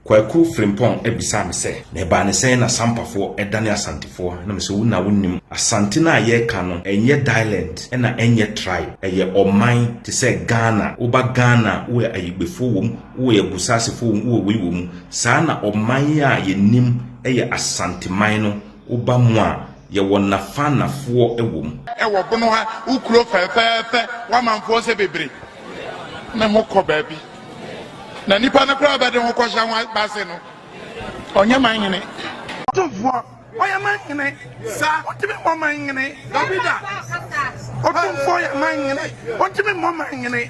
Kwaku Frimpong abisaa me sɛ, na ɛbaa ne sɛn na Sampafoɔ dane Asantefoɔ? Na mese, wo na wonim. Asante no a yɛreka no, ɛnyɛ dialɛnt na ɛnyɛ tribe. Ɛyɛ ɔman te sɛ Ghana. Woba Ghana a, wowɔ Ayigbefoɔ wɔ mu, wowɔ Agusasefoɔ wɔ mu, wowɔ wei wɔ mu. Saa na ɔman yi a yɛnim yɛ Asanteman no Woba mu a, yɛwɔ nnafannafoɔ wɔ mu. Wɔ bono ha, wo kuro fɛfɛɛfɛ, w'amanfoɔ sɛ bebre ne ho kɔ baabi. Na nipa no koraa bɛde ho kɔhyɛ ho base no, ɔnyɛ man hene. Otumfoɔ, ɔyɛ man hene. Sa, ontumi mmɔ man hene. Dabida. Otumfoɔ yɛ man hene, ontumi mmɔ man hene.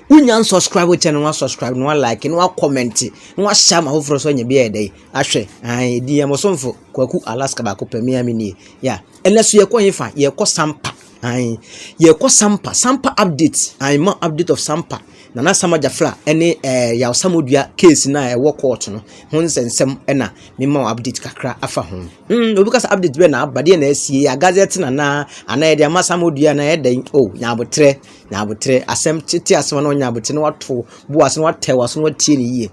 Wonya nsubscribe wo channel no wa subscribe no wa like no wa comment no wa share ma foforɔ so anya bi ayɛ dɛ ahwɛ ahan edi yɛ mosomfo kwaku alaska baako pɛ mmea mi nie ya ɛnɛ so yɛkɔ yɛn fa yɛkɔ sampa ahan yɛkɔ sampa sampa update ahan ma update of sampa nana samaja fla ɛne ɛɛ yaw samodua case na ɛwɔ court no ho nsɛnsɛm ɛna mema wɔ update kakra afa ho mm obi kasa update bɛ na abadeɛ na asie yɛ agazɛ tena na anaa yɛde ama samodua na ɛdɛn o oh, nyabotrɛ Na aboterɛ, asɛm tete asɛm a na ɔnyɛ aboterɛ na wato bo ase na watɛw aso na watie no yie.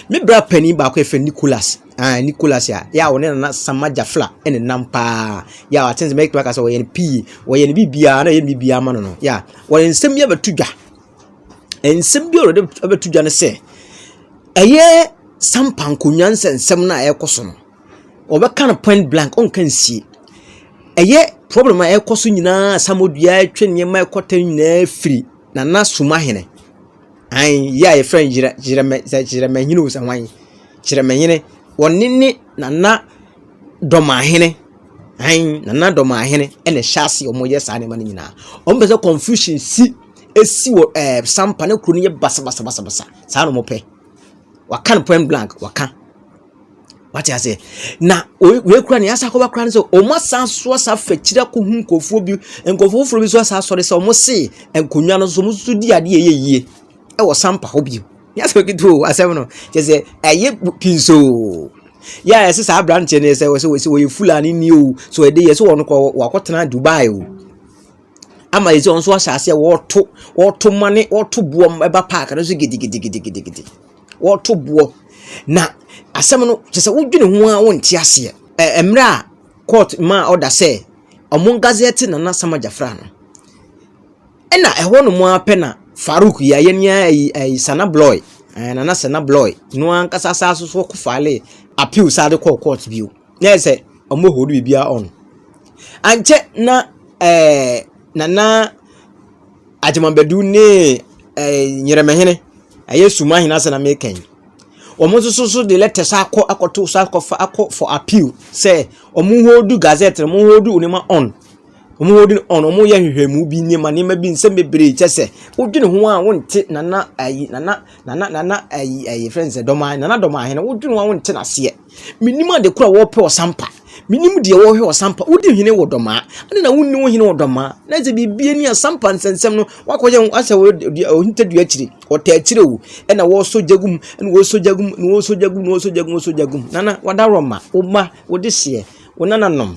Me bra panin baako yɛfrɛ no Nicholas. Ah, Nicholas a, yɛ a ɔne nana Sama Jafla ɛne nam paa. Yɛ a atene sɛ mɛtumi aka sɛ ɔyɛ no pii, ɔyɛ no biribiara na ɔyɛ no biribiara ma no no. Yɛ a ɔde nsɛm bi abɛto dwa. Nsɛm bi a ɔde abɛto dwa no sɛ, ɛyɛ sampa nkonnwa nsɛnsɛm no a ɛrekɔ so no. Wɔbɛka no point blank, ɔnka nsie. Ɛyɛ problem a ɛkɔ so nyinaa a asamoah ɛretwe nneɛma a ɛkɔ tɛm nyinaa firi Nana Sumahene, an yi a yɛfrɛ no Gyerɛ Gyerɛmɛ sɛ Gyerɛmɛhene o sɛ hwan, Gyerɛmɛhene, wɔne ne Nana Dɔmahene, an Nana Dɔmahene ɛna ɛhyɛ ase a wɔyɛ saa nneɛma no nyinaa. Wɔpɛ sɛ confusion si ɛsi wɔ ɛɛ sampa ne kuro no yɛ basabasabasa, saa na wɔpɛ. Wɔaka no point blank, wɔaka. wate ase na wei kura ne yasa akɔba kura ne sɛ wɔn asan so asa fɛkyiri akɔ hu nkurɔfoɔ bi nkurɔfoɔ foforɔ bi nso asa asɔre sɛ wɔn se nkonnwa no so wɔn nso di adeɛ yɛ yie ɛwɔ sampa hɔ bio yasa okiti o asɛm no kyɛ sɛ ɛyɛ pii so yɛ a yɛsɛ saa aberanteɛ no sɛ wɔsɛ wɔsɛ wɔyɛ fulani ni o so ɛde yɛ sɛ wɔn kɔ wakɔtena dubai o ama yɛ sɛ wɔn nso ahyɛ aseɛ wɔɔto wɔɔto mane wɔɔto boɔ ɛba paaki no so gidigidigidigidi. wɔreto boɔ. Na asɛm no, kyerɛ sɛ wodwene ho ara wonte aseɛ. Ɛ mmerɛ a court maa order sɛ wɔngazɛte Nana Asa Magyafra no, ɛna ɛhɔ nom ara pɛ na Farouk yi, ayɛ ni ara yi, ɛyi Sana Bloy, ɛɛ Nana Sana Bloy no ankasa saa so so fale appeal saa de kɔɔ court bio. Na yɛ sɛ wɔn hold biribiara on. Ankyɛ na ɛɛ Nana Agyemabadu ne ɛɛ Nyeremɛhene, ɛyɛ Suma ahene asɛm na meka yi. Wɔn nso so so de letters akɔ akɔto so akɔfa akɔ for appeal sɛ wɔn hold gazette no, wɔn hold nneɛma on. Wɔn hold no on, wɔyɛ nhwehwɛmu bi nneɛma nneɛma bi nsɛm bebree kyɛ sɛ wodwene ho a wonte nana ayi nana nana nana ayi ayi fɛn sɛ dɔmaa nana dɔmaahene wodwene ho a wonte n'aseɛ. Mennim ade koro a wɔrepɛ ɔsampa. Mennim deɛ wɔrehwɛ ɔsampa. Wodi hene wɔ dɔmaa. Ade na wonni wo hene wɔ dɔmaa. Na sɛ biribi ani asampa nsɛnsɛm no, wakɔyɛ ho asɛ ɔhinta dua akyiri. Ɔtaa akyire o. Ɛna wɔresɔ gya gum, ɛna wɔresɔ gya gum, na wɔresɔ gya gum, na wɔresɔ gya gum, wɔresɔ gya gum. Nana, wadaworoma, wo mma, wo dehyeɛ, wo nananom.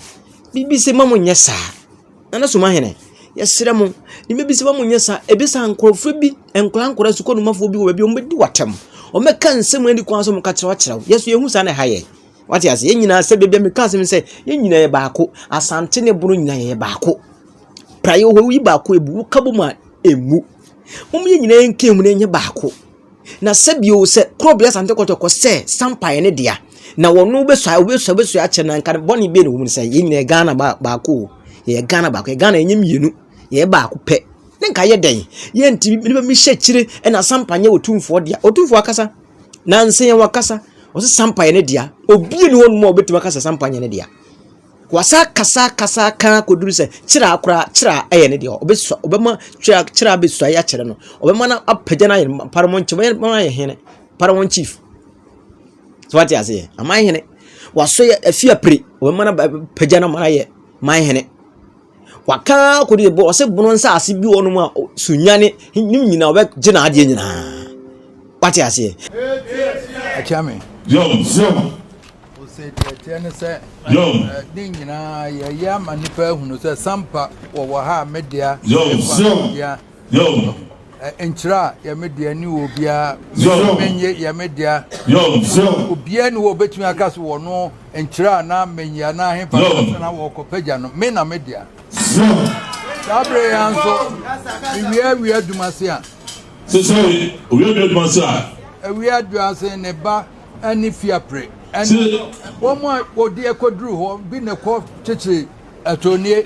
Biribi se ma mo nyɛ saa. Nana Sumahene, yɛsrɛ mo, ne bɛbi sɛ wɔn nyɛ sa, ebi sa nkorɔfoɔ bi, nkora nkora sukuu numafoɔ bi wɔ baabi, wɔn bɛdi wɔtɛm, wɔn bɛka nsɛm ani kwan so, wɔn ka kyerɛw kyerɛw, yɛso yɛhu saa na ɛha yɛ. Wate ase, yɛn nyinaa sɛ baabi a meka asɛm sɛ, yɛn nyinaa yɛ baako, asante ne bono nyinaa yɛ baako. Praeɛ hɔ yi baako ebu, woka bɔ mu a emu. Wɔn yɛn nyinaa yɛn kɛn mu na yɛnyɛ baako. Na sɛ bio sɛ kuro bia sante kɔtɔkɔ sɛ sampa yɛ ne dea na wɔn bɛsua bɛsua bɛsua akyɛ na nka bɔne bie na wɔn mu sɛ yɛn nyinaa ghana baako yɛ ghana baako yɛ ghana ɛnyɛ mmienu yɛ baako pɛ ne nka yɛ dɛn yɛ nti nipa mi hyɛ akyire ɛna sampa nyɛ otumfoɔ dea otumfoɔ akasa na nsɛn wɔn akasa wɔsɛ sampa yɛ ne dea obi ni wɔn mu a wɔbɛtumi akasa sampa nyɛ ne dea. Wɔasan kasa kasa kã kodur sɛ Kyiraa koraa, Kyiraa yɛ ne deɛ. Ɔbɛsua, ɔbɛma Kyiraa, Kyiraa bɛsuae akyerɛ no. Ɔbɛma no apagya no ayɛ no Paramount Chief, ɔbɛma no ayɛ hene, Paramount Chief. So wate aseɛ? Aman hene. Wasɔ yɛ afi apire, ɔbɛma no apagya no ama no ayɛ man hene. Waka ara kɔ dɛ bor ɔse bor nsaase bi wɔ hɔnom a o sunyani ne nyina ɔbɛgye n'adeɛ nyina. Wate aseɛ? Akyea me. Osetie ne sɛ ne nyinaa yɛyɛ ama nnipa ahunu sɛ Sampa wɔwɔ ha a me dea, Sampa dea. Nkyerɛ a yɛ me dea ne obiara menye menye yɛ me dea obiara ni hɔ obetumi aka so wɔ no nkyerɛ a na menye anaa hefa sɛ na wɔkɔ pagya no me na me dea saa bere ya nso ewia awia adwuma se a sesɛre owia awia adwuma se a awia adwuma se ne ba ɛne fiapre ɛne wɔn a wɔde ɛkɔduru hɔ bi na ɛkɔ kyekyere ɛtɔnie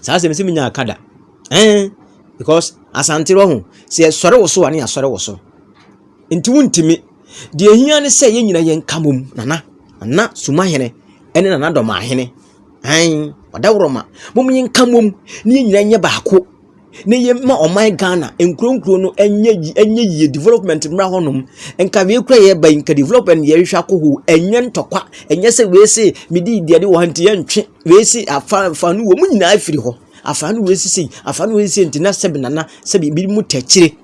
Saa asɛm sɛ menyaa ka da. Eh, because asante wɔ ho. Sɛ yɛsɔre wo so a ne yɛasɔre wo so. Nti wontimi. Deɛ hia ne sɛ yɛn nyina yɛn ka mom. Nana, nana sumahene, ɛne nana dɔmahene. Ain, ɔdawurɔma. Mom yɛn ka mom. Ne yɛn nyina nyɛ baako. Ne yɛn ma ɔman Ghana, nkuro nkuro no ɛnyɛ ɛnyɛ yie development mmra hɔnom. Nka wei kura yɛ ba nka development yɛhwehwɛ akɔ ho. Ɛnyɛ ntɔkwa. Ɛnyɛ sɛ wei se medi deɛ de wɔ ha nti yɛntwe. Wesi afa afa no wɔn nyinaa firi hɔ. Afa no wesi sei, afa no wesi sei nti na sɛbi nana sɛbi ebi mu tɛkyire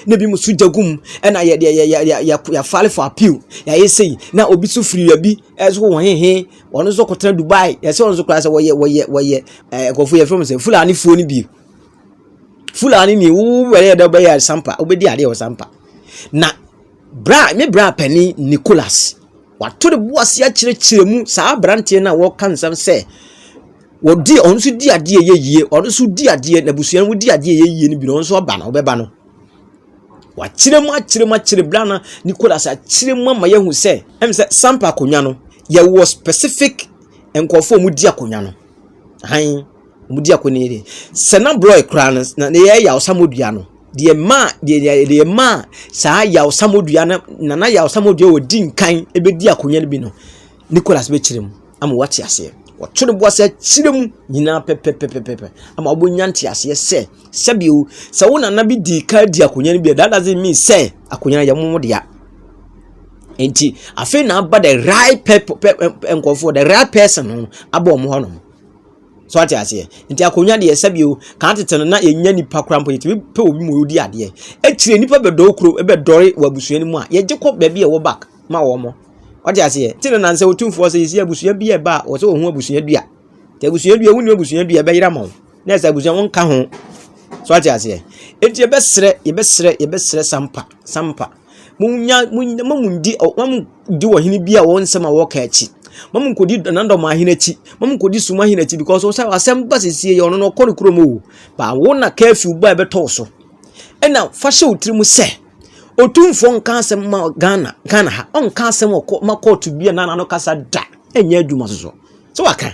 na ebi mu so gya gu mu ɛna yɛ yɛ yɛ yɛ yɛ file for appeal yɛayɛ sei na obi so firi baabi ɛso wɔn hehe wɔn nso kɔtena Dubai yɛsɛ wɔn nso koraa sɛ wɔyɛ wɔyɛ wɔyɛ ɛɛ nkurɔfoɔ yɛ fɛn mu sɛ Fulanifoɔ no bi Fulani ni wo wɛrɛ yɛ dɛ ɔbɛyɛ sampa ɔbɛdi adeɛ wɔ sampa na bra me bra panin Nicholas. Wato ne bo ase akyerɛkyerɛ mu saa aberanteɛ no a wɔreka nsɛm sɛ wɔdi ɔno nso di adeɛ yɛ yie ɔno nso di adeɛ n'abusua no di adeɛ yɛ yie no bi na ɔno nso ɔba no ɔbɛba no wakyerɛ mu akyerɛ mu akyerɛ bla na nicholas akyerɛ mu ama yɛhu sɛ ɛm sɛ sampa akonnwa no yɛwɔ specific nkurɔfoɔ a wɔdi akonnwa no han Wɔdi ako no yie. Sɛ na borɔe koraa no, na yɛyɛ yawsammo dua no. Deɛ maa deɛ deɛ maa saa yawsammo dua no na na yawsammo dua wɔdi nkan bɛdi akonnwa no bi no, Nicholas bɛkyerɛ mu ama wɔate aseɛ. Wɔto no bo ase akyerɛ mu nyinaa pɛpɛpɛpɛpɛ ama wɔbɛnya nteaseɛ sɛ sɛbio sɛ wo nana bi di kan di akonnwa no bi a that doesn't mean sɛ akonnwa no yɛ mo dea. Nti afei na aba the right pep, pep, eh, eh, nkɔfoɔ the right person no abɔ wɔn hɔ nom. So wate aseɛ? Nti akonnwa deɛ ɛsɛ bio. Kan tete no na yɛnya nipa koraa mpo yɛtumi pɛ obi ma ɔdi adeɛ. Akyire nipa bɛdɔɔ kuro bɛdɔre wɔ abusua no mu a yɛgye kɔ baabi a ɛwɔ back ma wɔn. Wate aseɛ? Ti no na nsɛ otumfoɔ sɛ yɛsi abusua bi a ɛba a wɔsɛ wɔhu abusua dua. Nti abusua dua wonni abusua dua ɛbɛyera ma wo. Na ɛsɛ abusua wɔn ka ho. So wate aseɛ? Nti yɛbɛsrɛ yɛbɛsrɛ yɛbɛsrɛ sampa sampa. Munnya munny mma munndi ɔ mma munndi ɔhene bi a wɔn nsɛm a wɔka akyi. Mma munkɔdi Nandɔma ahene akyi. Mma munkɔdi Sum ahene akyi because ɔsɛ asɛm ba sesie yɛ ɔno no ɔkɔ ne kurom o. Ba wo na curfew ba a ɛbɛtɔ wo so. Ɛna fa hyɛ wo tirim sɛ Otumfoɔ nka asɛm ma Ghana Ghana ha. Ɔnka asɛm wɔ kɔ ma kɔɔto bi a n'ano kasa da. Ɛnyɛ adwuma soso. So waka?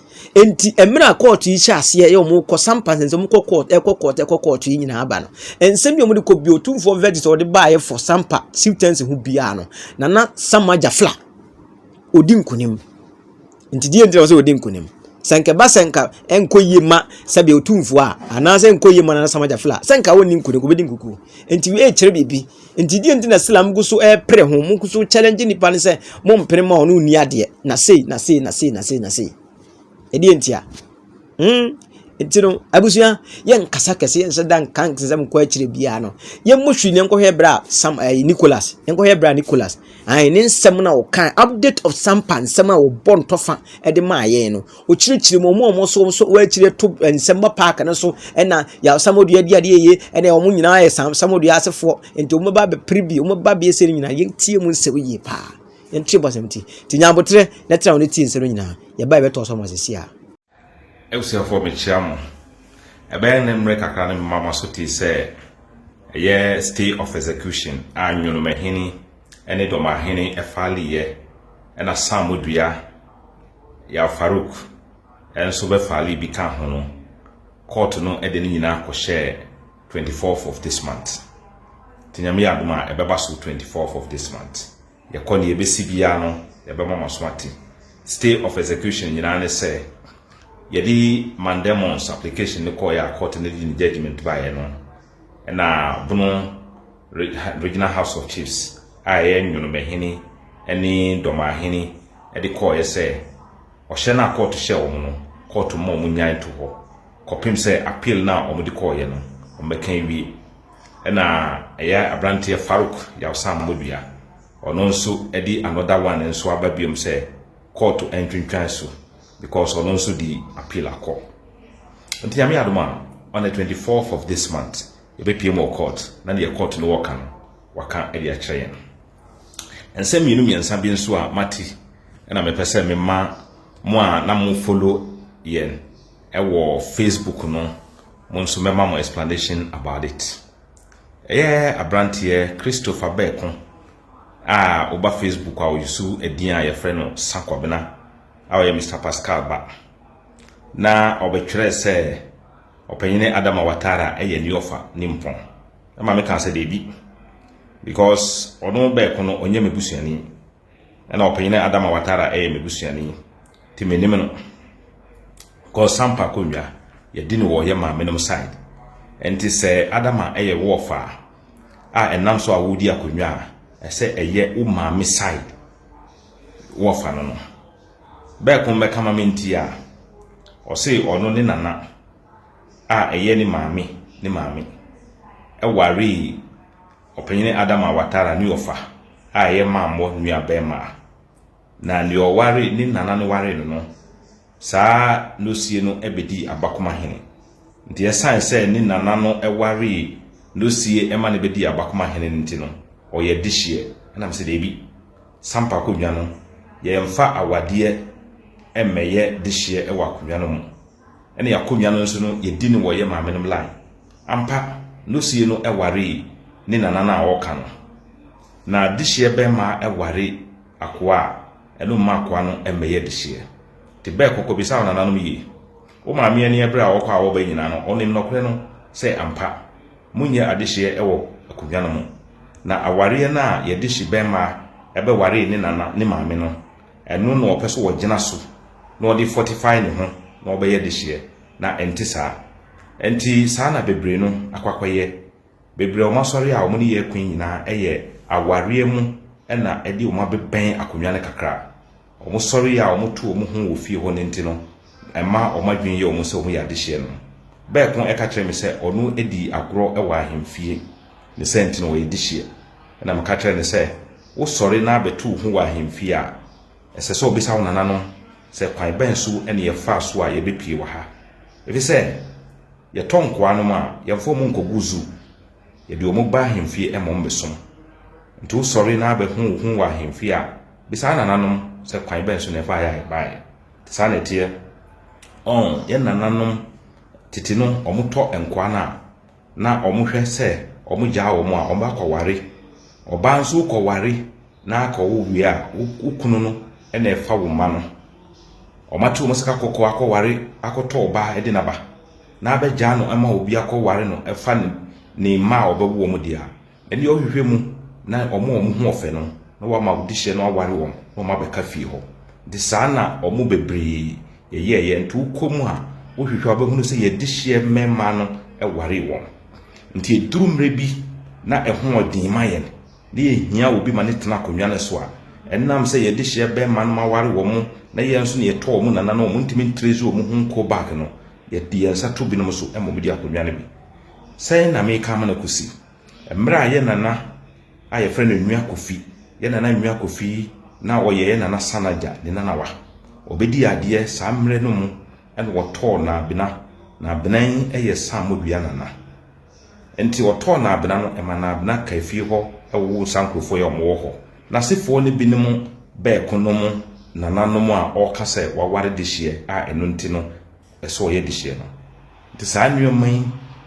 Enti mmerɛ a kɔɔto yi hyɛ aseɛ yɛ wɔn kɔ sampa nsɛnsɛm wɔn kɔ kɔɔto ɛkɔ kɔɔto ɛkɔ kɔɔto yi nyinaa ba no nsɛm bi a wɔn de kɔ bi otumfoɔ verdict a wɔde baayɛ fɔ sampa siwtɛnsi ho biara no nana sama gyafla odi nkunim nti deɛ nti na wɔsɛ odi nkunim sɛnkɛba sɛnka ɛnkɔ yie ma sɛbi otumfoɔ a anaasɛ ɛnkɔ yie ma nana sama gyafla sɛnka wɔn ni nkunim wɔbɛdi nkukuo nti wei kyerɛ biribi. Nti deɛ nti na Islam gu so ɛrepere ho, mo gu so challenge nipa no sɛ mo mpere ma ɔno nni adeɛ, na sei, na sei, na sei, na sei, na sei. Ɛdeɛ nti a. Hmm. Nti no, abusua, yɛn nkasa kɛse, yɛn nhyɛ da nka nsɛm nkɔ akyire biara no. Yɛn mo hwi ne nkɔhwɛ bere a Sam ɛɛ eh, Nicholas, yɛn nkɔhwɛ bere a Nicholas, ayi ne nsɛm na ɔka update of Sampa nsɛm a ɔbɔ ntɔfa ɛde maa yɛn no. Wɔkyerɛkyerɛ mu, wɔn a wɔso wɔn so wɔn akyire to nsɛmma paake no so na yɛasamodua di adeɛ yie ɛna wɔn nyinaa yɛ samsamodua asefoɔ nti wɔn ba bɛpere bi wɔn ba bɛyɛ sɛ no nyinaa yɛntie mu nsɛm yie paa yɛntie mu asɛm ti ti nyabotrɛ na tena wɔn tie nsɛm no nyinaa yɛba yɛbɛtɔ so wɔn asɛsi a. abusuafoɔ mekyia mo ɛbɛyɛ ne mmerɛ kakra ne mema mo aso tee sɛ ɛyɛ stay of execution a nwonomahene ne dɔmahene ɛfa liyɛ ɛna samodua Yaw Farouk nso bɛfaa leave bi kaa ho no, kɔɔto no de ne nyinaa kɔhyɛɛ twenty fourth of this month. Nti Nyame yɛ adom a, ɛbɛba so twenty fourth of this month. Yɛkɔ nea ɛbɛsi biara no, yɛbɛma mo aso ate. Stay of execution nyinaa ne sɛ, yɛde Mandemons application no kɔeɛ a kɔɔto no de ne judgement baeɛ no, na Bono Regional House of Chiefs a ɛyɛ Nwonomahene ne Dɔmahene de kɔɔeɛ sɛ ɔhyɛ no a kɔɔto hyɛɛ wɔn no, kɔɔto mma wɔn nyae to hɔ kɔpem sɛ appeal no a wɔn de kɔɔeɛ no wɔn bɛka awie. Ɛna ɛyɛ abranteɛ Farouk Yawsa Ammodua, ɔno nso de another one nso aba biom sɛ kɔɔto ntwentwan so because ɔno nso di appeal akɔ nti nyame adom a on the 24th of this month yɛbɛpie mu wɔ court na deɛ court no wɔka no waka de akyerɛ yɛn nsɛm mmienu mmiɛnsa bi nso a mate ɛna mepɛ sɛ mema mo a na mo follow yɛn ɛwɔ facebook no mo nso mɛma mo explanation about it ɛyɛ aberanteɛ christopher bɛɛko a woba facebook a ɔyusu ɛdin a yɛfrɛ no sakwabena a ɔyɛ Mister Pascal ba, na ɔbɛtwerɛɛ sɛ Ɔpanyini Adama Ouattara yɛ ne ɔfa nimpɔn. Na maame kaa sɛ daabi, because ɔno bɛɛko no ɔnyɛ me busuani, ɛna Ɔpanyini Adama Ouattara yɛ me busuani, nti menim no. Because Sampa Konwa, yɛdi no wɔ yɛ maame nom side. Nti sɛ Adama yɛ wo ɔfa a ɛnam so a woredi akonnwa a, ɛsɛ ɛyɛ wo maame side. wɔfa no no, bɛɛ ko mbɛka ma me nti a, ɔsee ɔno ne nana a ɛyɛ ne maame ne maame ɛwaree ɔpanyini Adama Watara ne ɔfa a ɛyɛ mammɔ nua bɛɛmaa. Na nea ɔware ne nana no waree no no Saa Losie no bɛdii Abakoma hene. Nti ɛsiane sɛ ne nana no waree Losie ma no bɛdii Abakoma hene no nti no, ɔyɛ adehyeɛ. Ɛna mesɛ daabi, Sampa akonnwa no, yɛmfa awadeɛ mmɛyɛ dehyeɛ wɔ akonnwa no mu. Ɛne akonnwa no nso no, yɛdi no wɔ yɛ maame nom line. Ampa, Losie no waree ne nana no a ɔreka no. Na dehyeɛ bɛmma ware akoa a. Ɛno mma akoa no mmɛyɛ dehyeɛ. Te bɛ, kɔkɔ bisa wo nananom yie. Wo maame ani ɛbere a ɔkɔ a ɔba nyinaa no, ɔnim nɔkorɛ no sɛ ampa monyɛ adehyeɛ ɛwɔ akonnwa no mu. Na awareɛ no a yɛde hye bɛmmaa ɛbɛwaree ne nana ne maame no, ɛno na ɔpɛ so ɔgyina so na ɔde fortify ne ho na ɔbɛyɛ dehyeɛ. Na ɛnte saa. Ɛnti saa na bebree no akɔ akɔyɛ. Bebree a wɔn asɔre a wɔn ne yɛ kun nyinaa yɛ awareɛ mu na ɛde wɔn abɛbɛn akonnwa no kakra. Wɔn sɔre a wɔto wɔn ho wɔ fie hɔ no nti no, ɛma wɔn adwene yɛ wɔn sɛ wɔn yɛ adehyeɛ no. Bɛɛko ɛka kyerɛ me sɛ ɔno di agorɔ wɔ ahemfie ne sɛ nti no ɔyɛ dehyeɛ. Ɛna meka kyerɛ no sɛ, wosɔre na abɛto wo ho wɔ ahemfie a, Ɛsɛ sɛ obisa wo nananom sɛ kwan bɛn so na yɛfaa so a yɛbɛpue wɔ ha. Efisɛ yɛtɔ nkoa nom a, yɛmfa wɔn nkɔgu zoo. Yɛde wɔn ba ahemfie ma wɔbɛsom. Enti wosɔre na bɛhu wo ho wɔ ahemfie a, bisa wo nananom sɛ kwan bɛn so na yɛfaa yɛ a yɛbaeɛ. Nti saa na ɛteɛ. Ɔn, yɛn nananom tete no, wɔtɔ nkoa no a, na wɔhwɛ sɛ wɔgyaa wɔn a, wɔakɔware. Ɔbaa nso wokɔware na akɔwo wie a, wo kunu no na ɛfa wo mma no. Wɔate wɔn sika kɔkɔɔ akɔware akɔtɔ ɔbaa de n'aba na abɛgyaa no ma obi akɔware no ɛfa ne mma a ɔbɛwo wɔn deɛ a, Ɛnneɛ ɔhwehwɛ mu na wɔn a wɔn ho ɔfɛ no na wama wo dehyɛ no aware wɔn na wɔn abɛka fie hɔ. Nti saa na wɔn bebree yɛyɛeɛ. Nti wokɔ mu a, wohwehwɛ a wobɛhunu sɛ yɛn dehyeɛ mmɛmmaa no waree wɔn. Nti ɛduru mmerɛ bi na ɛho ɔden ma yɛn na yɛhia obi ma no tena akonnwa no so a, ɛnam sɛ yɛn dehyeɛ bɛmma nom aware wɔn na yɛn nso na yɛtɔ wɔn nana no wɔn ntumi ntrɛsi wɔn ho nkɔ back no, yɛde yɛn nsa to binom so ma wɔn de akonnwa no bi. Sɛn na meka amena kosi? Mmerɛ a yɛ nana a yɛfrɛ no Nua Kofi, yɛ nana Nua Kofi na ɔyɛ yɛ nana Sanagya ne nanawa. Ɔbɛdii adeɛ saa mmerɛ no mu na wɔtɔɔ Naabena. Naabena yi yɛ Saamodua nana. Nti ɔtɔɔ Naabena no, ɛma Naabena kaa fie hɔ wowoo Sankurofoɔ yi a wɔwɔ hɔ. N'asefoɔ no binom bɛɛko nom nananom a ɔreka sɛ waware dehyeɛ a ɛno nti no, ɛsɛ ɔyɛ de hyɛ no. Nti saa nnoɔma yi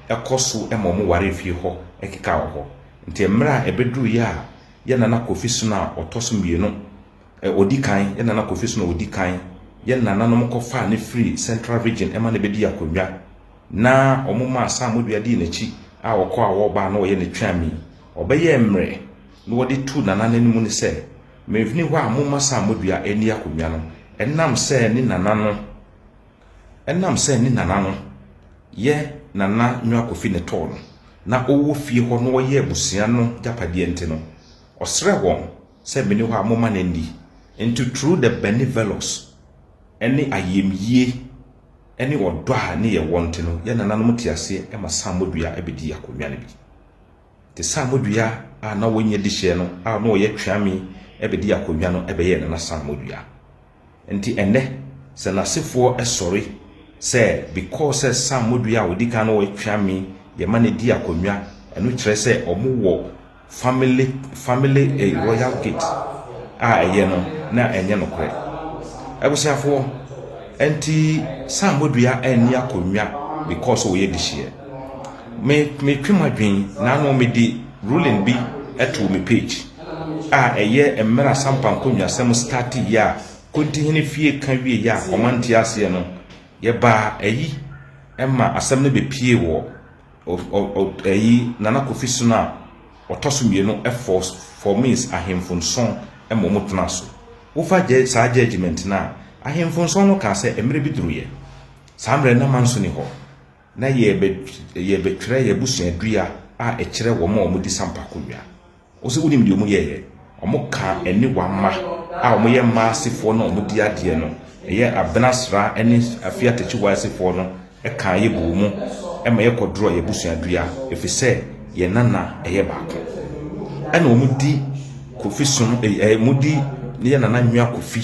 kɔ so ma wɔn ware fie hɔ keka wɔ hɔ. Nti mmerɛ a ɛbɛduruiɛ a yɛn Nana Kofi Sono a ɔtɔ so mmienu, ɛ, ɔdi kan, yɛn Nana Kofi Sono a ɔdi kan, yɛn nananom kɔfaa no firii Central Region ma no bɛdii akonnwa, na wɔmaa Sam Modua dii n'akyi a ɔkɔ a ɔba a na ɔyɛ ne tweami. Ɔbɛyɛɛ mmerɛ na wɔde tuu Nana no anim no sɛ, Menfini hɔ a momma Sam Modua nni akonnwa no, ɛnam sɛ ne Nana no, Ɛnam sɛ ne nana no yɛ Nana Nua Kofi Netɔɔ no na ɔwɔ fie hɔ na wɔyɛ abusua no gyapadeɛ nti no, ɔsrɛɛ wɔn sɛ meni hɔ a momma no nni. Nti through the benevolous ne ayɛmyie ne ɔdɔ a ne yɛwɔ nti no, yɛn nananom te aseɛ ma Saamodua bɛdii akonnwa no bi. Nti Saamodua a na ɔnyɛ dihyeɛ no a na ɔyɛ Tweame bɛdii akonnwa no bɛyɛɛ Nana Saamodua. Nti ɛnnɛ sɛ nasefoɔ sɔre sɛ because sɛ Sam modua a ɔdi kan no wɔ Tweame yɛ ma no di akonnwa ɛno kyerɛ sɛ ɔmo wɔ family family eh royal gate a ɛyɛ no na ɛnyɛ nokorɛ abusuafoɔ ɛnti Sam modua ɛnni akonnwa because ɔyɛ dehyeɛ me me twe madwen na ano me de ruling bi ɛtoo me page. a ɛyɛ mmerɛ asampa nkonnwasɛm startee yɛ a Kontihene fie ka wie yɛ a wɔma nte aseɛ no yɛbaa ayi ma asɛm no bɛpie wɔ ayi Nana Kofi Sono a ɔtɔ so mmienu ɛfɔ formis ahemfo nson ma wɔn tena so wofa saa judgment no a ahemfo nson no kaa sɛ mmerɛ bi duru yɛ saa mmerɛ na ma nso ni hɔ na yɛbɛtwerɛ yɛ abusuadua a ɛkyerɛ wɔn a wɔdi sampa akonnwa Wo se wonim deɛ wɔyɛeɛ? Wɔkaa ɛne wɔn mma a wɔyɛ mmaa asefoɔ no a wɔdi adeɛ no, ɛyɛ Abena Sraa ne Afia Takyiwaa asefoɔ no kaa yɛ bɔɔ mu ma yɛkɔdorɔɔ yɛn abusuadua ɛfiri sɛ yɛn nana yɛ baako. Ɛna wɔdi Kofi som, wɔdi yɛn nana Nwa Kofi.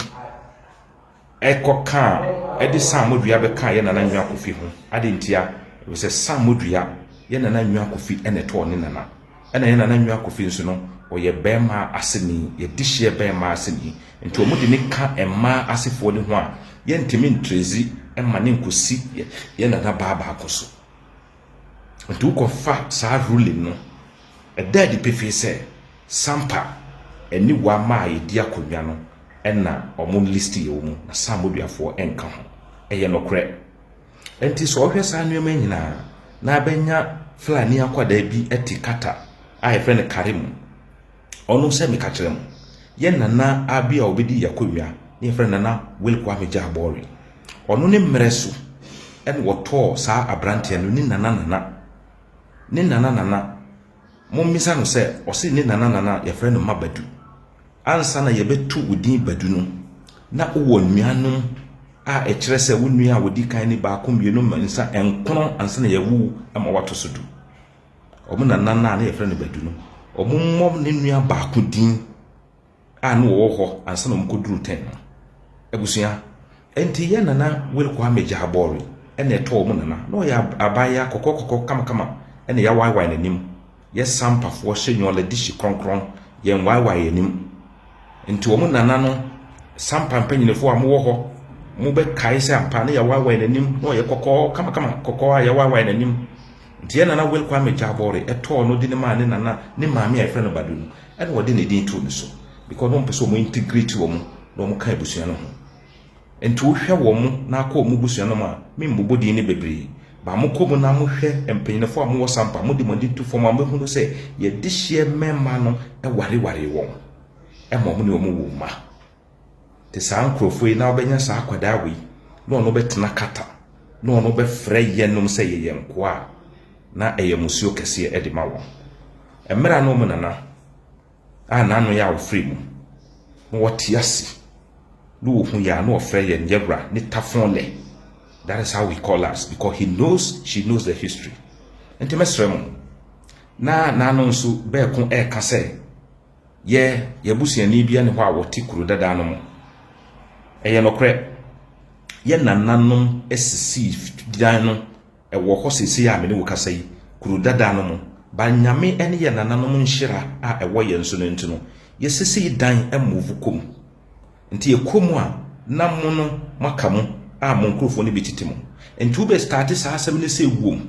kɔ kaa ɛde saamo dua bɛ kaa yɛ nana nwa kofi ho ade ntia sɛ saamo dua yɛ nana nwa kofi ɛna ɛtɔɔ ne nana ɛna yɛ nana nwa kofi nso no ɔyɛ bɛɛma aseni yɛ de hyeɛ bɛɛma aseni nti ɔmo de ne ka ɛmaa asefoɔ ne ho a yɛ ntumi ntrezi ɛma ne nkosi yɛ nana baa baako so. Enti wokɔfa saa ruling no, ɛda adi pefee sɛ Sampa ne Wamma a yɛdi akonnwa no na wɔn list yɛ wɔn, na Sam Boduafoɔ nka ho. Ɛyɛ nokorɛ. Enti sɛ ɔhwɛ saa nneɛma nyinaa na abɛnya Fulani akwadaa bi te Qatar a yɛfrɛ no Karim, ɔno sɛ meka kyerɛ mo, yɛn nana a bi a ɔbɛdi yɛ akonnwa ne yɛfrɛ no nana Will Kwame Gyabɔre. Ɔno ne mmerɛ so ɛna wɔtɔɔ saa aberanteɛ no ne nana nana ne nana nana mommisa no sɛ ɔse ne nana nana yɛfrɛ no ma badu ansa na yɛbɛto wo din badu no na wowɔ nuanom a ɛkyerɛ sɛ wo nua a wɔdi kan ne baako mmienu mmiɛnsa nkono ansa na yɛawu ma wato so du wɔn nana no a na yɛfrɛ no Badu no, wɔmmɔ ne nua baako din a na wɔwɔ hɔ ansa na wɔkɔduru tɛn no. Abusua, ɛnti yɛ nana Will Kwame Gyaabɔre ɛna ɛtɔɔ wɔn nana. Na ɔyɛ abaayewa kɔkɔkɔkɔ kamakama ɛna yɛawaaewaae n'anim. Yɛ Sampafoɔ hyɛ nyɔla di hye krɔnkrɔn, yɛnwaaewaae yɛn anim. Nti wɔn nana no, Sampa mpanyinfoɔ a mowɔ hɔ, mobɛkae sɛ ampa na yɛawaaewaae n'anim, na ɔyɛ kɔkɔɔ kamakama, kɔkɔɔ a yɛawaaewaae n'anim. Nteɛ Nana Will Kwame Gyabɔre ɛtɔɔ no de no maa ne nana ne maame a yɛfrɛ no Badu no ɛna wɔde ne din too ne so because na wɔn pɛ sɛ wɔn integrate wɔn na wɔn ka abusua no ho nti wo hwɛ wɔn na akɔ wɔn busua no mu a me mbobɔ din no bebree ba mo kɔ mu na mo hwɛ mpanyinfoɔ a mo wɔ sampa mo de mo ani to fam a mo bɛhunu sɛ yɛdehyeɛ mɛma no ɛware ware wɔn ɛma wɔn ne wɔn wɔ mma. Te saa nkurɔfoɔ yi na wobɛnya saa akwadaa wei na ɔno bɛtena kata na ɔno bɛfrɛ yɛnom sɛ yɛyɛ nkoa a na ɛyɛ musuo kɛseɛ de ma wɔn. Mmerɛ na wɔn nana a n'ano yɛ a wɔfiri mu na wɔte ase na wɔhu yɛ a na wɔfrɛ yɛn yɛwura ne tafon lɛ. That is how he call us because he knows she knows the history. Nti mɛsrɛ mo na n'ano nso bɛɛko ɛɛka sɛ Yɛ y'abusuani bi ne hɔ a wɔte kuro dada no mu. Ɛyɛ nokorɛ, yɛ nananom sisii dan no, ɛwɔ hɔ seesei a me ne wo kasa yi, kuro dada no mu. Ba Nyame ne yɛ nananom nhyira a ɛwɔ yɛn so no nti no, yɛsisii dan move kɔ mu. Nti yɛkɔ mu a, na mo no moaka mu a mo nkorɔfoɔ no bi tete mu. Nti wobɛ starte saa asɛm no sɛ wom.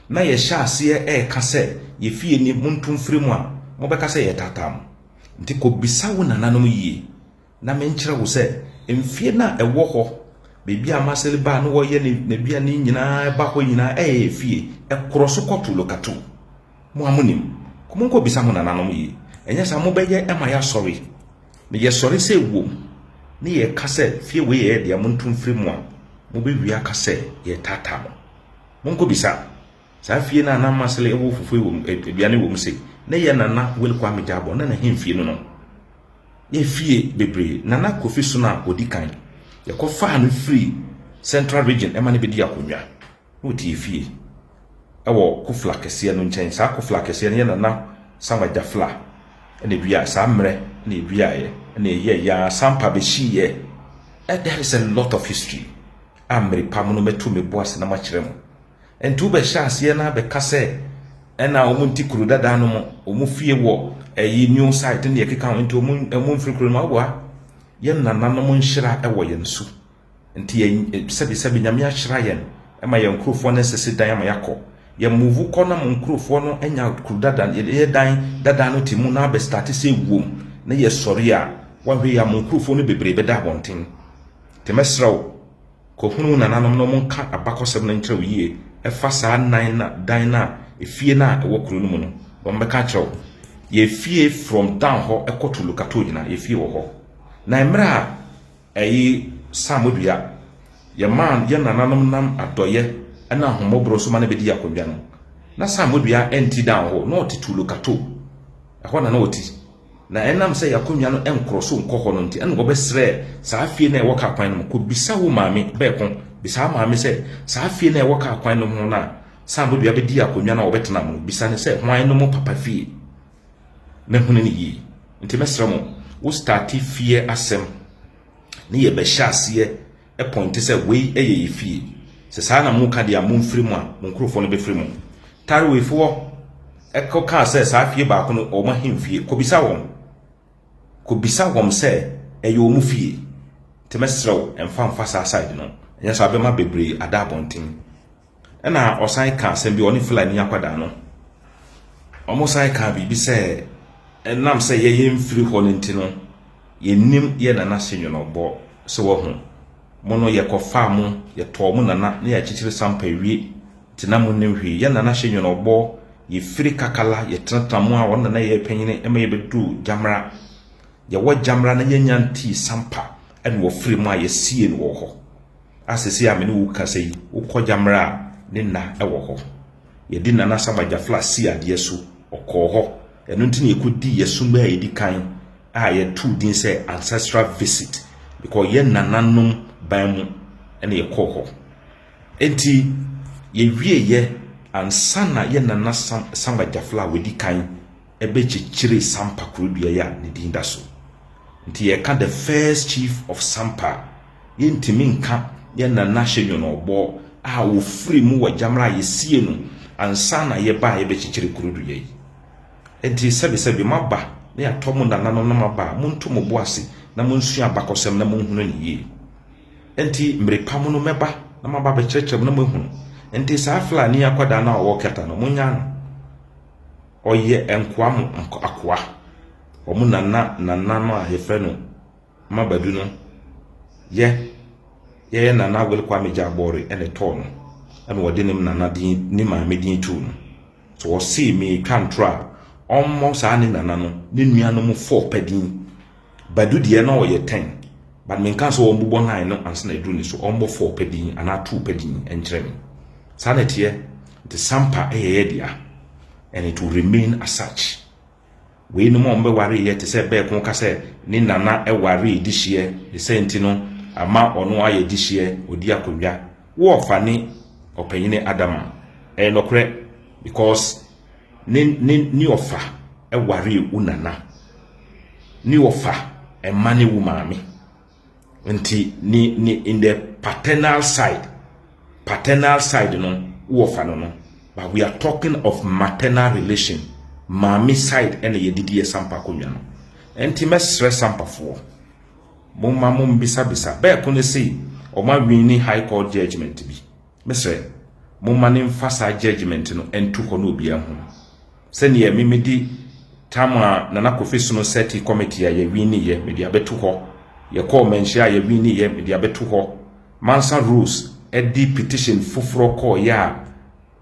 na yɛhyɛ aseɛ reka sɛ yɛ fie ni monto mfiri mu a, mobɛka sɛ yɛretaataa mo. Nti kɔbisa wo nananom yie na menkyerɛ wo sɛ mfeɛ no a ɛwɔ hɔ baabi a Marcel baa na ɔyɛ n'aduane nyinaa ba hɔ nyinaa ɛyɛ yɛ fie, ɛkorɔ so kɔ Tulokatu. Mo a monim, monkɔbisa mo nananom yie, ɛnyɛ saa mobɛyɛ ma yɛasɔre na yɛsɔre sɛ ewom na yɛka sɛ fie wei yɛ yɛ dea monto mfiri mu a, mobɛwie aka sɛ yɛretaataa mo. Monkɔbisa saa fie no a na Masele wɔ fufuo wɔ mu, aduane wɔ mu se, na ɛyɛ Nana Willy Kwame Gyabor, na n'ahemfie no no. Yɛ fie bebree. Nana Kofi so na ɔdi kan. Yɛkɔfaa no firi Central Region ɛma no bɛdi akonnwa. Na ɔte fie ɛwɔ Kofla kɛseɛ no nkyɛn. Saa Kofla kɛseɛ no yɛ Nana Samuel Gyafla ɛna ɛduaeɛ. Saa mmerɛ ɛna ɛduaeɛ, ɛna ɛyɛɛyɛ ara sampa bɛhyiiɛ. That is a lot of history. a merepam no mɛto me bo ase na makyerɛ mo. Ɛnti wobɛhyɛ aseɛ na bɛka sɛ ɛna wɔn nti kuro dada no mo wɔn fie wɔ ɛyi new site ne deɛ ɛkeka ho nti wɔn wɔn mfiri kuro no awa yɛn nananom nhyira ɛwɔ yɛn so nti yɛn sɛbisɛbi nyame ahyira yɛn ɛma yɛn nkurofoɔ no nsisi dan ama yɛakɔ yɛn move kɔ na mo nkurofoɔ no anya kuro dada yɛ dan dada no ti mu na abɛstate sɛ wuom na yɛsɔre a wɔahwɛ yɛ a mo nkurofoɔ no bebree bɛda abɔnten Nti mɛsrɛ wo, kɔhunu wo nananom na wɔnka abakɔsɛm no nkyerɛ wo yie ɛfa saa nnan no a, dan no a, efie no a ɛwɔ kuro no mu no. Wɔbɛka akyerɛ wo. Yɛfie from down hɔ kɔ to Lukato nyinaa, yɛfie wɔ hɔ. Na mmerɛ a ɛyi Sam dua, yɛmaa yɛn nananom nam adɔyɛ ne ahommɔborɔ so ma no bɛdii akonnwa no. Na Sam dua ɛnti down hɔ, na ɔte to Lukato. Ɛhɔ na na ɔte. Na ɛnam sɛ y'akonnwa no nkɔrɔ so nkɔ hɔ no nti, ɛna wɔbɛsrɛɛ saa fie no a ɛwɔ kaa kwan no mu. Kɔbisa wo maame bɛɛko, bisa wo maame sɛ, saa fie no a ɛwɔ kaa kwan no ho no a Saambodua bɛdii akonnwa no a wɔbɛtenaa mu no, bisa no sɛ hwan no mo papa fie, na hunu no yie. Nti mɛsrɛ mo, wo starte fie asɛm ne yɛbɛhyɛ aseɛ pɔinte sɛ wei yɛ yɛ fie. Sɛ saa na moka deɛ a, momfiri mu a, mo nkurɔfoɔ no bɛfiri mu. Taroefoɔ kɔkaa sɛ saa fie baako no, wɔn ahemfie. Kɔbisa wɔn. Kɔbisa wɔn sɛ ɛyɛ wɔn fie. Nti mɛsrɛ wo, mfa mfa saa side no. Ɛnyɛ saa a, wobɛma bebree ada abɔnten. Ɛna ɔsan kaa asɛm bi, ɔne Fulani akwadaa no, wɔsan kaa biribi sɛ ɛnam sɛ yɛyɛ mfiri hɔ no nti no, yɛnim yɛ nana se nwenɔbɔ sɛ wahu mo no yɛkɔfaa mo, yɛtɔɔ mo nana na yɛakyekyere sampa wie nti na mo nim hwee. Yɛ nana se nwenɔbɔ, yɛfiri kakala, yɛtenatena mo a wɔn nana yɛ panyini ɛma yɛbɛdu gyamra. Yɛwɔ gyamra na yɛnya ntii sampa ɛna wɔfiri mo a yɛsie no wɔ hɔ. a seesei a me ne wo kasa yi, wokɔ Gyammerɛ a, ne nna wɔ hɔ. Yɛde Nana Saba Gyafla sii adeɛ so, ɔkɔɔ hɔ. Ɛno nti na yɛkɔdii yɛn som a ɛdi kan a yɛtoo din sɛ Ancestral Visit. Mekɔyɛ nananom ban mu na yɛkɔɔ hɔ. Enti yɛwieeɛ ansa na yɛn Nana Saba Gyafla a ɔdi kan bɛkyekyeree Sampa kurodua yi a ne din da so. Nti yɛka the first chief of Sampa a, yɛntumi nka yɛn Nana Hyɛ Nyɔnɔbɔɔ a ɔfirii mu wɔ Gyamra a yɛsiee no ansa na yɛba a yɛbɛkyekyere kurodua yi. Nti sɛbesɛbe moaba na yɛatɔ mo nananom na moaba a, monto mo bo ase na monsua abakɔsɛm na monhunu no yie. Nti mmere pa mu no mɛba na maba abɛkyerɛkyerɛ mo na moahunu. Nti saa Flani akwadaa no a ɔwɔ Kɛta no, monyaa no. Ɔyɛ nkoa mu akoa. Wɔn na na nana no a yɛfrɛ no Mma Badu no yɛ yɛyɛ nana Wele Kwame Gyaabɔre na ɛtɔɔ no ɛna wɔde ne nana din ne maame din too no. So wɔsee meetwa ntorɔ a ɔmmɔ saa ne nana no ne nuanom fɔɔ pɛ din. Badu deɛ na ɔyɛ ten but me nka sɛ wɔn bobɔ nine no ansa na aduru ne so wɔn bɔ four pɛ din anaa two pɛ din nkyerɛ me saa na ɛteɛ nti sampa ɛyɛ yɛ dea and it will remain as such wei nom a wɔn bɛware yɛ te sɛ bɛɛko ka sɛ ne nana ɛware di hyeɛ ne sɛ nti no ama ɔno ayɛ di hyeɛ ɔdi akonnwa wɔɔfa ne ɔpanyini adama ɛyɛ nɔkorɛ because Ne ne ne ɔfa waree wo nana. Ne ɔfa mma ne wo maame. Nti ne ne in the paternal side paternal side no wo ɔfa no no but we are talking of maternal relation maame side ɛna yɛde di sampa konwa no. Nti mɛsrɛ sampafoɔ mo ma mo mbisabisa bɛɛko ne se ɔma wini high court judgement bi. Mesrɛ, momma no mfa saa judgement no nto hɔ na obiara nhu. Sɛdeɛ me mede term a Nana Kofi Sono sɛte committee a yɛwiniiɛ mede abɛto hɔ, yɛkɔɔ manhyia a yɛwiniiɛ mede abɛto hɔ, Mansa Rose de petition foforɔ kɔeɛ a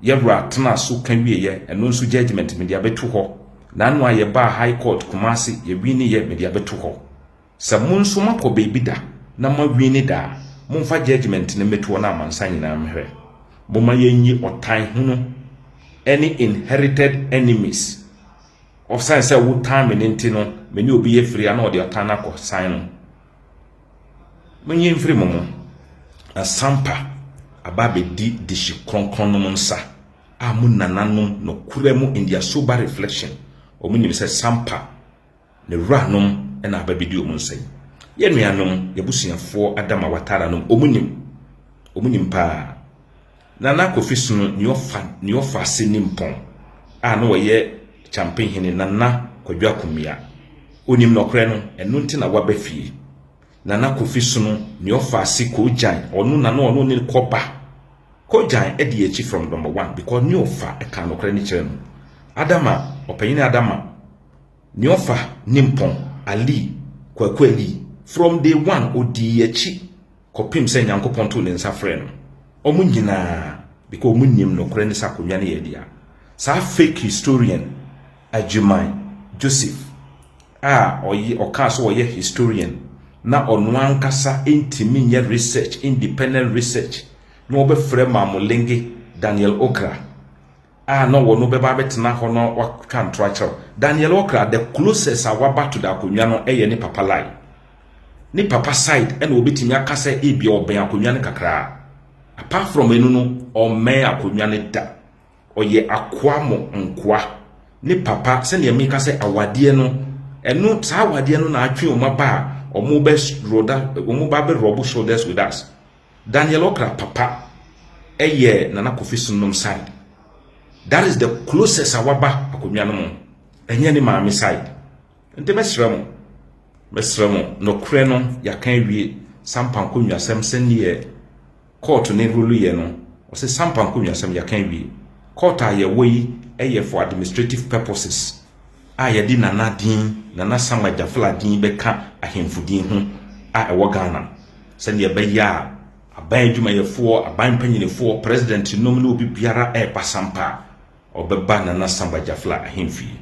Yawura tenaa so ka wieeɛ, ɛno nso judgement mede abɛto hɔ, Nano a yɛbaa High Court Kumasi yɛwiniiɛ mede abɛto hɔ. Sɛ mo nso moakɔ baabi da na moawini da a, momfa judgement no mmetoɔ no amansan nyinaa mmrɛ. Momma yɛnyi ɔtan hunu ne inherited enemies. Ɔsane sɛ wotan me no nti no, me ne obi yɛ firi a na ɔde ɔtan no akɔ san no. Monyi mfiri mo mu. Na Sampa aba abɛdi dehye kronkron nom nsa a mo nananom nokorɛ mu in their sober reflection wɔn nim sɛ Sampa Ne wuranom na aba bedi wɔn nsa yi. Yɛn nuanom, y'abusuafoɔ Adam a watara nom, wɔn nim. Wɔn nim paa. Nana Kofi Sono, nea ɔfa, nea ɔfa ase nim pɔn, a na ɔyɛ Kyampe hene, Nana Kwadwo Akumia. Onim nɔkorɛ no, ɛno nti na waba fie. Nana Kofi Sono, nea ɔfa ase Koogyan, ɔno na na ɔno ne ne kɔba. Koogyan adi yɛn akyi from number one, because nea ɔfa ɛkaa nɔkorɛ no kyerɛ no. Adama, ɔpanyini Adama. Neɔfa Nimpɔn Alii, Kwaku Alii, from day one ɔdii akyi kɔpem sɛ Nyankopɔn too ne nsa frɛɛ no. Ɔmo nyinaa, because ɔmo nnim nokorɛ ne sɛ akonnwa no yɛ dea. Saa fake historian Agyirman Joseph a ɔyɛ ɔkaa sɛ ɔyɛ historian na ɔno ankasa ntumi nyɛ research, independent research, na ɔbɛfrɛ Maamolenge Daniel Okra a na wɔno bɛba abɛtena hɔ no watwa ntorɔ akyerɛw Daniel Okra the closest a waba to the akonnwa no yɛ ne papa Lai ne papa side ɛna wɔbɛtumi aka sɛ ebia ɔbɛn akonnwa no kakraa apart from ɛno no ɔmmɛn akonnwa no da ɔyɛ akoa mo nkoa ne papa sɛnea meka sɛ awadeɛ no ɛno saa awadeɛ no na atwe wɔn aba a wɔn bɛ roda wɔn ba bɛ rɔbo shoulders with us Daniel okra papa ɛyɛ nana kofi so nom side that is the closest a waba akonnwa no mo ɛnyɛ ne maame side nti mɛsrɛ mo mɛsrɛ mo nɔkorɛ no yɛaka awie sampa nkonnwasɛm sɛneɛ court ne rule yɛ no ɔsɛ sampa nkonnwasɛm yɛaka awie court a yɛwɔ yi ɛyɛ for administrative purposes a yɛde Nana din, Nana Sam Agyafla din bɛka ahemfo din ho a ɛwɔ Ghana no, sɛdeɛ ɛbɛyɛ a aban adwumayɛfoɔ, aban mpanyinifoɔ, president nom ne obi biara reba sampa a, ɔbɛba Nana Sam Agyafla ahemfie.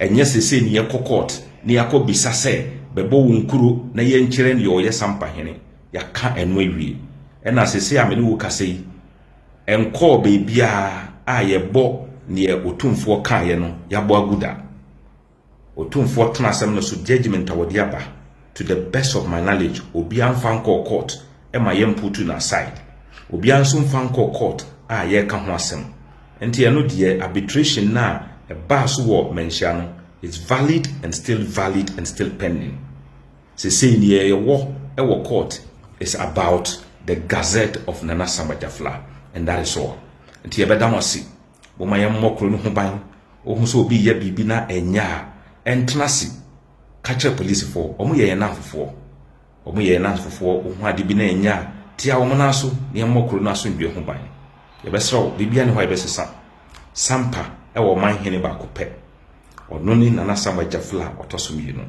Ɛnyɛ seesei ne yɛkɔ court na yɛakɔ bisa sɛ bɛbɔ wɔn kuro na yɛnkyerɛ deɛ ɔyɛ sampa hene. Yɛaka ɛno awie. Ɛna seesei a me ne wo kasa yi, ɛnkɔɔ baabiara a yɛbɔ neɛ Otumfoɔ kaeɛ no yɛabɔ agu da. Otumfoɔ tena asɛm no so judgement a wɔde aba to the best of my knowledge obiara mfa nkɔɔ court ma yɛmputu no aside. Obiara nso mfa nkɔɔ court a yɛreka ho asɛm. Nti ɛno deɛ arbitration no a ɛbaa so wɔ Manhyia no it's valid and still valid and still pending. Sesei nea yɛwɔ wɔ court is about the gazette of Nana Samba Jafla and that is all. Nti yɛbɛda mo ase. Momma yɛmmɔ kuro no ho ban. Wohu sɛ obi reyɛ biribi na ɛnyɛ a, ɛntena ase. Ka kyerɛ polisifoɔ. Wɔyɛ yɛn nnamfofoɔ. Wɔyɛ yɛn nnamfofoɔ. Wohu ade bi na ɛnyɛ a, tia wɔn nan so na yɛmmɔ kuro no asomdwoeɛ ho ban. Yɛbɛsrɛ wo, biribiara nni hɔ a yɛbɛsesa. Sampa wɔ ɔman hene baako pɛ. Ɔno ne Nana Sam Agyaful a ɔtɔ so mmienu.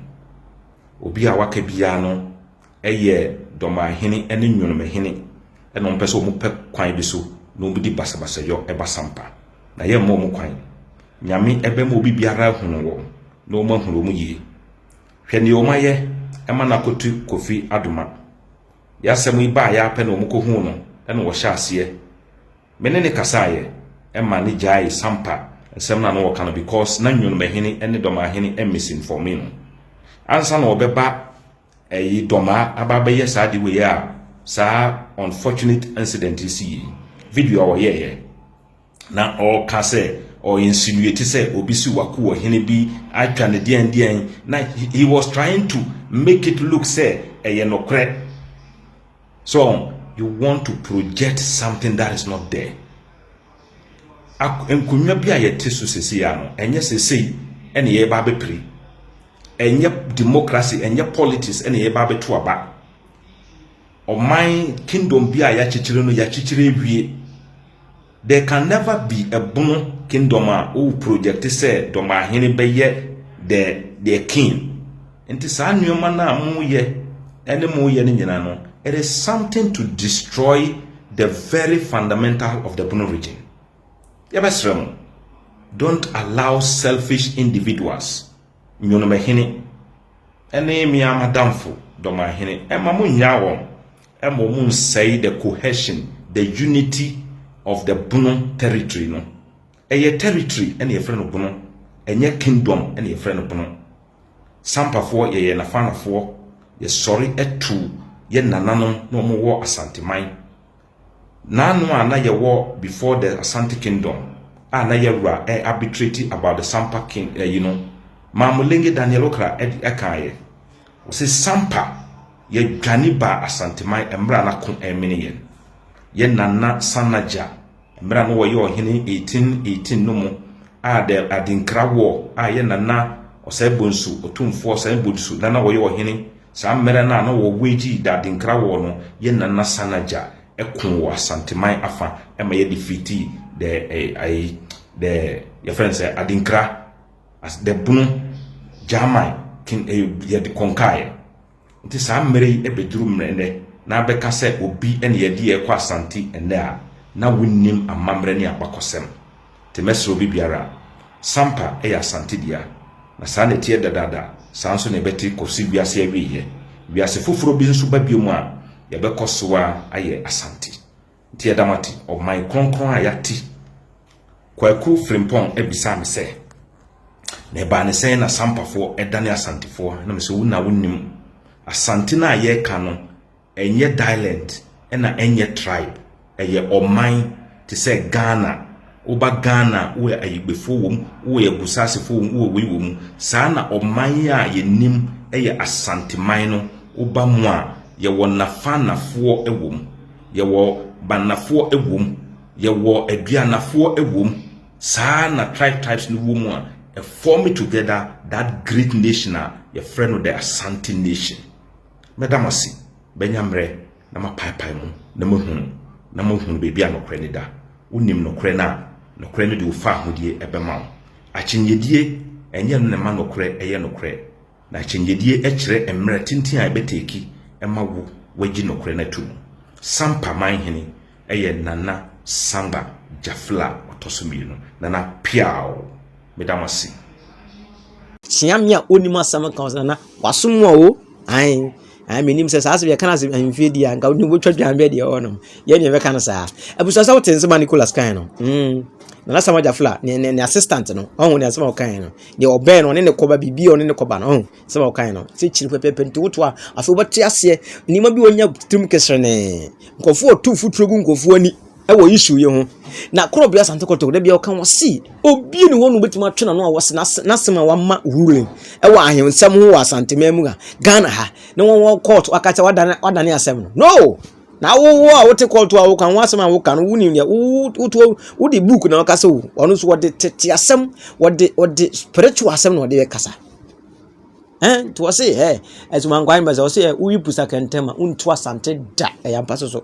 Obi a waka biara no yɛ Dɔmanhene ne Nwonomahene na wɔpɛ sɛ wɔpɛ kwan bi so na wɔdi basabasayɔ ba sampa. Na yɛmma wɔn kwan. Nyame bɛma obi biara ahunu wɔn na wɔn ahunu wɔn yie. Hwɛ nea wɔn ayɛ ma no akotu Kofi Adoma. Yɛ asɛm yi baeɛ ara pɛ na wɔkɔhuu no na wɔhyɛ aseɛ Me ne no kasaeɛ ma no gyaee Sampa nsɛm no a na ɔreka no because na Nyonomahene ne Dɔmahene misinforme no. Ansa na ɔbɛba ɛyi Dɔma aba abɛyɛ saa ade wei a saa unfortunate incident yi siiɛ yi, video a ɔyɛeɛ na ɔreka sɛ ɔ insinuate sɛ obi siw ako wɔ hene bi atwa no deɛn deɛn na he was trying to make it look sɛ ɛyɛ nokorɛ. So you want to project something that is not there? Nkonnwa bi a yɛte so sese ya no, ɛnyɛ sesei ɛna yɛba abɛpiri. Ɛnyɛ democracy, ɛnyɛ politics ɛna yɛba abɛto aba. Ɔman kingdom bi a yɛakyekyere no, yɛakyekyere awie. There can never be a bono kingdom a wo project sɛ dɔmahene bɛyɛ the their king. Nti saa nneɛma no a moyɛ ɛne moyɛ no nyinaa no, it is something to destroy the very fundamental of the bono region. Yɛbɛsrɛ mo, don't allow selfish individuals, nyonomahene ɛne mmea madamfo dɔmahene ɛma mo nnyaa wɔn. Ɛma ɔmo nsɛe the cohesion, the unity of the Bono territory no. Ɛyɛ territory ɛna yɛfrɛ no Bono, ɛnyɛ kingdom ɛna yɛfrɛ no Bono. Sampafoɔ yɛyɛ Nafanafoɔ, yɛsɔre tu yɛ nananom na ɔmo wɔ Asanteman. Naano a na yɛwɔ before the Asante kingdom a na yɛwura ɛ arbitrate about the Sampa king ɛyi no, Maamulenge Daniel Okra ɛde ɛkaayɛ. Wɔse Sampa, yɛdwane baa Asanteman mmerɛ a na ko remene yɛn. Yɛ Nana Sanagya, mmerɛ a na ɔyɛ ɔhene 1818 no mu a the Adinkra war a yɛ Nana Ɔsɛebonsu, Otumfoɔ Ɔsɛebonsu na na ɔyɛ ɔhene saa mmerɛ no a na wɔ wage the Adinkra war no, yɛ Nana Sanagya koo wɔ Asanteman afa ma yɛ defeatii the, the, yɛfrɛ no sɛ Adinkra. as the bunu gyaman kin eh, yɛde kɔnkaeɛ nti saa mmerɛ yi ɛbɛduru mmerɛ nnɛ na abɛka sɛ obi ɛne yɛde yɛ kɔ asante ɛnnɛ a na wonnim amammerɛ ne abakɔsɛm te mɛsrɛ obi biara sampa ɛyɛ asante dea na saa na ɛteɛ dadaada saa nso na ɛbɛte kɔsi wiase awieɛ wiase foforɔ bi nso ba bio mu a yɛbɛkɔ so a ayɛ asante Nti ɛda mo ate ɔman kronkron a yɛate. Kwaku Frimpong bisaa me sɛ, na ɛbaa ne sɛn na Sampafoɔ dane Asantefoɔ? Na me sɛ, wo na wonim. Asante no a yɛreka no, ɛnyɛ dialent, ɛna ɛnyɛ tribe. Ɛyɛ ɔman te sɛ Ghana. Woba Ghana a, wowɔ Ayigbefo wom, wowɔ Agusaasefo wom, wowɔ wei wom. Saa na ɔman yi a yɛnim yɛ Asanteman no, woba mu a, yɛwɔ Nafanafoɔ wom, yɛwɔ Banafoɔ wom, yɛwɔ Aduanafoɔ wom. Saa na tribe tribes no wɔ mu a, ɛform together that great nation a yɛfrɛ no the Asante nation. Mɛda mo ase, bɛnya mmerɛ na mapaepae mu, na mahunu, na mahunu baabi a nokorɛ no da. Wonim nokorɛ no a, nokorɛ no de wo fahodie bɛma wo. Akyinnyedie, ɛnyɛ ɛno na ɛma nokorɛ yɛ nokorɛ. Na akyinnyedie kyerɛ mmerɛ tenten a ɛbɛteki ma wo wagyi nokorɛ no ato mu. Sampa manhene yɛ Nana Samba Jafla ɔtɔ so mmienu, Nana Piaw. Meda mo ase. Kyea me a onim asɛm ka ɔsɛ na wasom a o ae ae menim sɛ saa asɛm yɛka no asɛm ahemfie di a nka wode wobɛtwa dwan bɛ deɛ ɛwɔ nom yɛ deɛ bɛka no saa abusua sɛ wote nsɛm a nicolas kae no mm nana sama gyafla ne ne ne assistant no ɔho ne asɛm a ɔkae no deɛ ɔbɛn no ɔne ne kɔba biribi a ɔne ne kɔba no ɔho asɛm a ɔkae no sɛ kyiri pɛpɛpɛ nti woto a afei wobɛte aseɛ nneɛma bi ɔnya tirim keserene nkurɔfoɔ ɔto mfuturo gu nkurɔfoɔ ani wɔ issue yi ho. Na koro bia asante kɔtɔ da bia ɔka ho si obi ne hɔ no betumi atwe n'ano a wɔse n'asɛm a wama ruling ɛwɔ ahensɛm ho wɔ asante man mu a Ghana ha ne wɔn wɔ court waka sɛ wadane wadane asɛm no no na wowo a wote court a woka ho asɛm a woka no wonim deɛ woto wode book na ɔka sɛ o ɔno nso wɔde tete asɛm wɔde wɔde spiritual asɛm na ɔde kasa ɛn nti wɔse ɛ ɛsumankwan bɛ sɛ wɔse ɛ woyi pusa kɛntɛn ma wontu asante da ɛyɛ ampa so so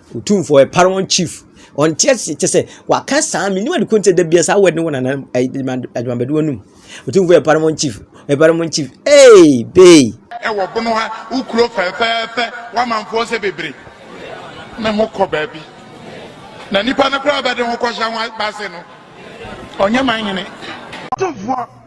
Otumfoɔ ɛ para wɔn chief. Ɔnte ase kyɛ sɛ waka saa me niwa de ko nkyɛ da bia saa word no wɔ nana adwamabɛdoɔ no mu. Otumfoɔ ɛ para wɔn chief. Ɛ para wɔn chief. Hey bey. Ɛwɔ bono ha wo kuro fɛfɛɛfɛ w'amanfoɔ sɛ bebre ne ho kɔ baabi na nipa no koraa bɛde ho kɔhyɛ ho base no ɔnyɛ man hene. Otumfoɔ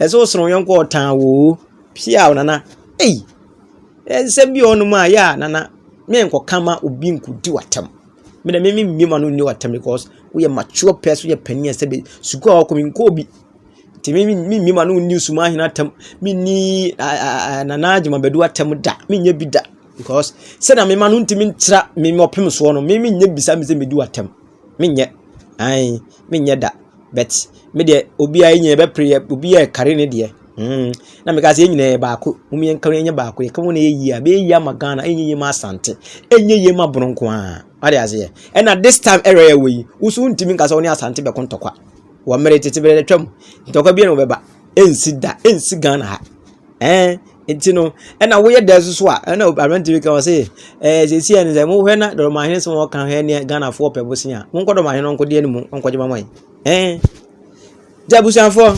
Ɛsɛ wo sere wo yɔnko ɔtan oo. Piaw nana ei nsɛm bi wɔ hɔnom a yɛ a nana menkɔka ma obi nkɔdi w'atam me dɛ meme mmie ma no nni w'atam because woyɛ mature pɛs woyɛ panin ɛsɛ bɛ sukuu a wɔkɔ menkɔɔ bi nti meme memmie ma no nni suma ahene atam menni nana gyamabɛdu atam da menyɛ bi da because sɛdeɛ mema no ntumi ntra meme ɔpem soɔ no meme nyɛ bisa me sɛ medi w'atam menyɛ ae menyɛ da but me deɛ obiara yɛ nyinaa yɛbɛpere yɛ obi yɛ kari ne deɛ mm na meka sɛ yɛn nyinaa yɛ baako wɔn yɛn kari yɛn nyɛ baako yɛ kari wɔn na yɛ yie a bɛyɛ yie ama ghana ɛnyɛ yie ma asante ɛnyɛ yie ma bono nko ara wade aseɛ ɛna this time ɛrɛ yɛ wɔ yi woso ntumi nka sɛ wɔn ne asante bɛko ntɔkwa wɔ mmerɛ tete berɛ atwam ntɔkwa bi na wɔbɛba ɛnsi da ɛnsi ghana ha. Ɛɛ nti no ɛna woyɛ dɛ soso a ɛna aberante bi ka ɔse ɛɛ sɛsi ɛne sɛ mohwɛ na dɔrɔmahene sɛ wɔka hɛ neɛ ghanafoɔ pɛ bosea monkɔ dɔrɔmahene no nkɔdeɛ no mu ɔnkɔgye ma mɔe ɛɛ nti abusuafoɔ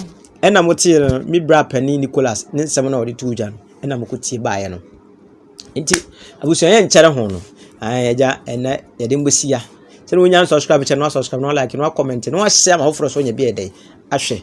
ɛna motee no me bra panin nicholas ne nsɛm na ɔde too dwa no ɛna mokɔtie baeɛ no nti abusua yɛ nkyɛre ho no ɛɛ agya ɛnɛ yɛde mbɛsia sɛdeɛ wonya subscribe kyɛ no asubscribe no alike no akɔmɛnte no ahyɛ ama foforɔ so nyɛ bi ɛdɛ ahwɛ